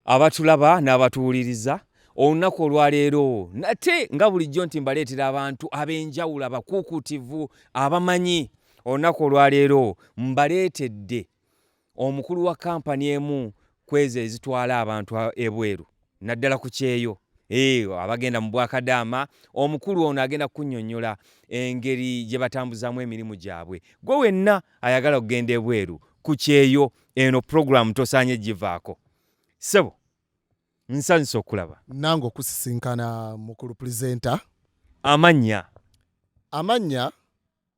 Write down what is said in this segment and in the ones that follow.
abatulaba n'abatuwuliriza olunaku olwaleero nate nga bulijjo nti mbaleetera abantu ab'enjawulo abakuukuutivu abamanyi olunaku olwaleero mbaleetedde omukulu wa kampani emu kwezo ezitwala abantu ebweru naddala ku kyeyo eh, abagenda mu bwakadaama omukulu ono agenda kukunyonyola engeri gye batambuzamu emirimu gyabwe gwe wenna ayagala okugenda ebweru ku kyeyo eno pulogulaamu tosaanye givaako sebo nsanyuse okulaba nange okusisinkana mukulu presenta amannya amannya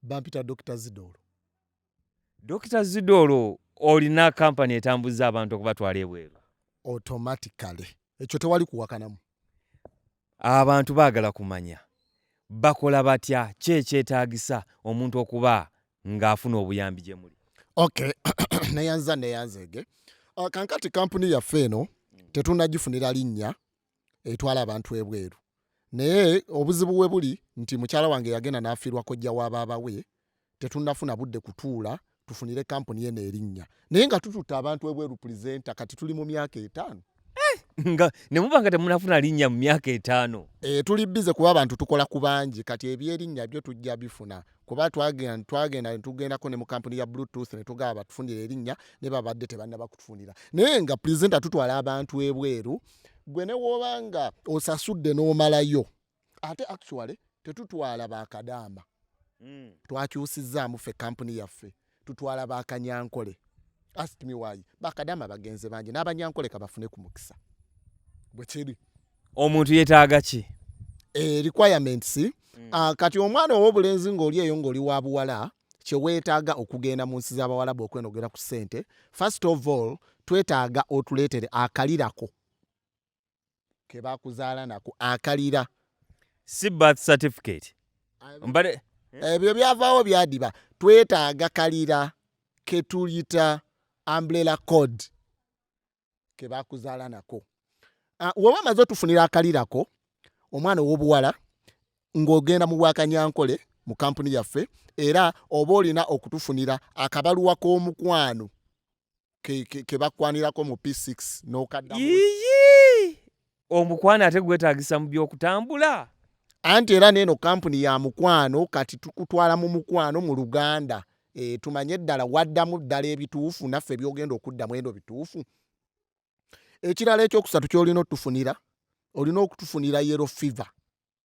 bampita dr zidoolo dr zidoolo olina kampani etambuza abantu okubatwala ebweru automatically ekyo tewali kuwakanamu Abantu baagala kumanya bakola batya, ki ekyetaagisa omuntu okuba ng'afuna obuyambi gye muli? Okay, neyanziza neyanzeege. Uh, kankati kampuni yaffe eno tetunagifunira linnya etwala abantu ebweru, naye obuzibu we buli nti mukyala wange yagenda n'afiirwa kojja wa baaba we tetunafuna budde kutuula tufunire kampuni eno erinnya naye nga tututte abantu ebweru pulizenta kati tuli mu myaka etaano eh, nga ne muba nga temunafuna linnya mu myaka etaano e, tuli bize kuba abantu tukola ku bangi kati ebyerinnya byo tujja bifuna kuba twagenda netugendako ne mu kampuni ya bluetooth netugaba batufunira erinnya ne babadde tebannaba kutufunira naye nga pulizenta tutwala abantu ebweru gwe ne wooba nga osasudde n'omalayo ate actually tetutwala bakadaama mm. twakyusizaamu ffe kampuni yaffe tutwala bakanyankole ask me why bakadaama bagenze bangi n'abanyankole kabafune ku mukisa bwe kiri omuntu yetaaga ki e, requirements mm. uh, kati omwana ow'obulenzi ng'oli eyo ng'oli wa buwala kyeweetaaga okugenda mu nsi z'abawalabu okwenogera ku ssente first of all twetaaga otuleetere akalirako kebakuzaala nako akalira si birth certificate mbale ebyo byavaawo byadiba twetaaga kalira ketuyita umbrella code kebakuzaala nako ah, woba amaze otufunira akalirako omwana owobuwala ng'ogenda mu bwakanyankole mu kampuni yaffe era oba olina okutufunira akabaluwa k'omukwano kebakwanirako ke, ke mu p6 nokadda omukwano ate gwetagisa mu byokutambula anti era neeno kampuni ya mukwano kati tukutwala mu mukwano mu luganda e, tumanye ddala waddamu ddala ebituufu naffe byogenda okuddamu eno bituufu ekirala ekyokusatu kyolina otufunira olina okutufunira yero fever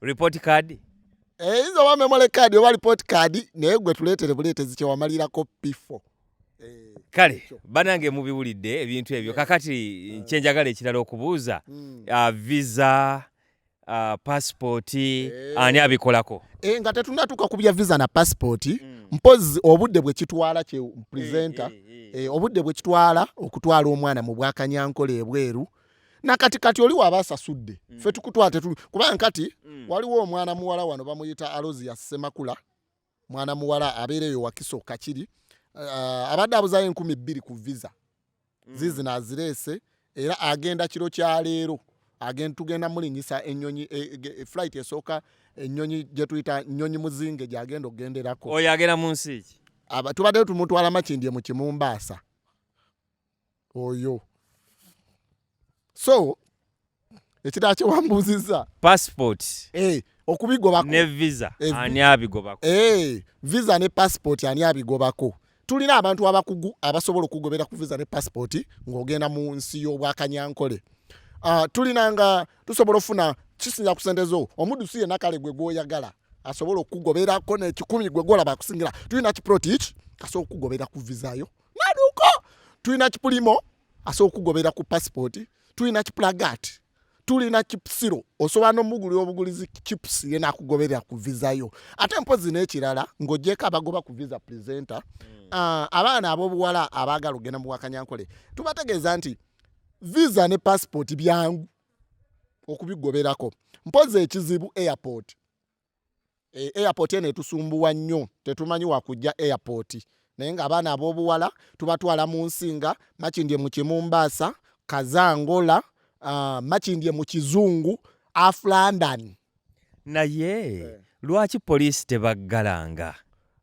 report card eyinza eh, oba memory card oba report card naye gwe tuleetere buleetezi kyewamalirako pifo eh, kale banange mubiwulidde ebintu ebyo kakati eh. kyenjagala ekirala okubuuza hmm. ah, visa ah, pasipooti ani abikolako nga tetunatuuka ku bya visa na pasipooti hmm. mpozi obudde bwekitwala kye presenta obudde bwekitwala okutwala omwana mu bwakanyankola ebweru nakati kati oli waba asasudde mm. fe tukutwate tu kubanga kati mm. waliwo omwana muwala wano bamuyita alozi ya semakula mwana muwala abeera eyo wakiso kakiri uh, abadde abuzayo enkumi bbiri ku visa mm. zizi nazireese era agenda kiro kya leero agenda tugenda mulinyisa enyonyi e, e, e, flight esooka enyonyi gyetuyita nyonyi muzinge gyagenda okugenderako oyo agenda mu nsi ki tubaddeyo tumutwala makindye mu kimumbaasa oyo so ekirala kyewambuuzizza passport eh, okubigobako ne visa eh, ani abigobako eh, visa ne passport ani abigobako tulina abantu abakugu abasobola okugobera ku visa ne passport ng'ogenda mu nsi y'obwakanyankole uh, tulina nga tusobola ofuna kisinja ku sente zo omudusi yenna kale gwe gwoyagala asobola okukugoberako nekikumi gwe gwolaba akusingira tulina kiprotich asobola okukugoberera ku visa yo maduko tulina kipulimo asobola okugobera ku passport tulina kipulagat tulina kipusiro osobola nomugulira obugulizi kipusi yena akugoberera ku visa yo ate mpozi nekirala ngaogyeko abagoba ku visa presenter mm. uh, abaana abobuwala abagala okugenda muwakanyankole tubategeeza nti visa ne passport byangu okubigoberako mpozi ekizibu airport e, airport eno etusumbuwa nnyo tetumanyi wakujja airport naye nga abaana abobuwala tubatwala mu nsinga makindye mu kimumbaasa kazangola uh, makindye mu kizungu af london naye eh. lwaki poliisi tebaggalanga